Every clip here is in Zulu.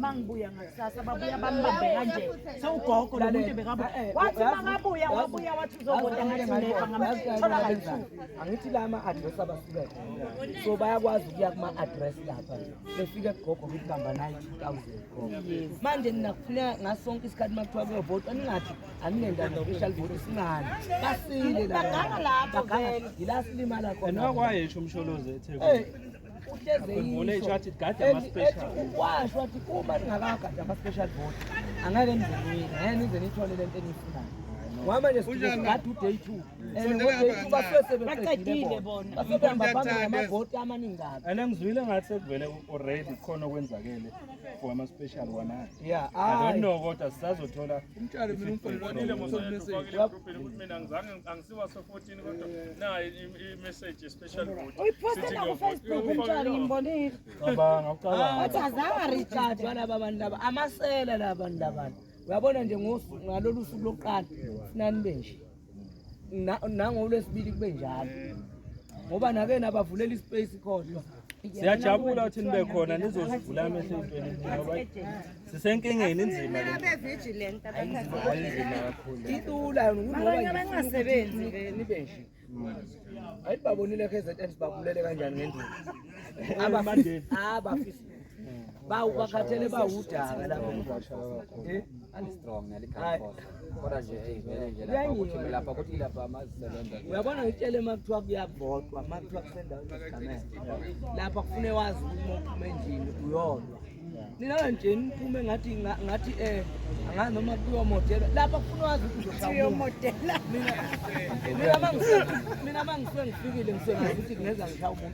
mangibuya ngakusasa babuya bambambe kanje sewugogo lomuntu bekabuya eh, eh, wathi makabuya wabuya wathi uzokude ngathi angithi la ama-address abasuke khona so bayakwazi ukuya kuma-address lapha befike kugogo ukuthi bamba naye two thousand manje ninakufuneka ngaso sonke isikhathi uma kuthiwa kuyovotwa ningathi aninendaba special vote singani basile la baganga lapho yila silimala khona nokwayesho umsholozi ethekwini uhlezeyisho ukwasho wathi uma ningakagadi ama-special vote angeke nizenini ngeke nize nithole le nto eniyifunayo ngoba nje sigade uday two and ngoday two basuke sebebaqedile bona basebehamba phambili ngamavoti amaningi kabi and ngizwile ngathi sekuvele already khona okwenzakele for ama-special wona yeah i don't know kodwa sisazothola umtshalo mina umfonile mosomeseyakubona mina ngizange angisiwa so 14 Na i-message especially ukuthi uyiposte na ku Facebook umntwana ngimbonile. Cabanga ucabanga. Wathi azange recharge wala babantu laba amasela la bantu labantu. Uyabona nje ngosu ngalolu suku lokuqala sinani benje. Na nangolwesibili kube njalo. Ngoba nakena bavulela ispace kodwa. siyajabula ukuthi nibe khona nizozivula amehlo entweni ngoba sisenkingeni inzima le nto. vigilant Inzima kakhulu le nto. itula abanye abangasebenzi nibe nje ayibabonile kzn sibabulele kanjani ngendlela Abafisi- abafisi bawu bakhathele bawudaka lapho eh? uyabona ngitshele uma kuthiwa kuyavotwa uma kuthiwa kusendaweni yesigameko lapha kufune wazi ukuthi uma uphuma endlini uyodwa nina kanje niphume ngathi ngathi eh angazi noma kuyomodela lapha kufuna wazi ukuzomodela mina mina mangifikile ngisengazi ukuthi kungeza ngishaya umuntu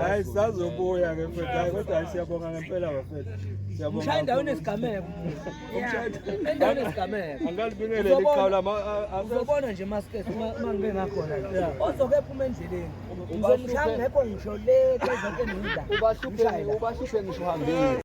hayi sazobuya ke mfethu hayi kodwa hayi siyabonga ngempela bafethu siyabonga Ushaya endaweni esigameko. Endaweni esigameko. angalibingeleli Uzobona. iqhawe lama a- a- Uzobona nje maskes uma uma ngibe ngakhona. Ozoke phuma endleleni. Ngizomshaya ngekho ngisho le ke zonke ngiza. ubahluphe ubahluphe ngisho uhambile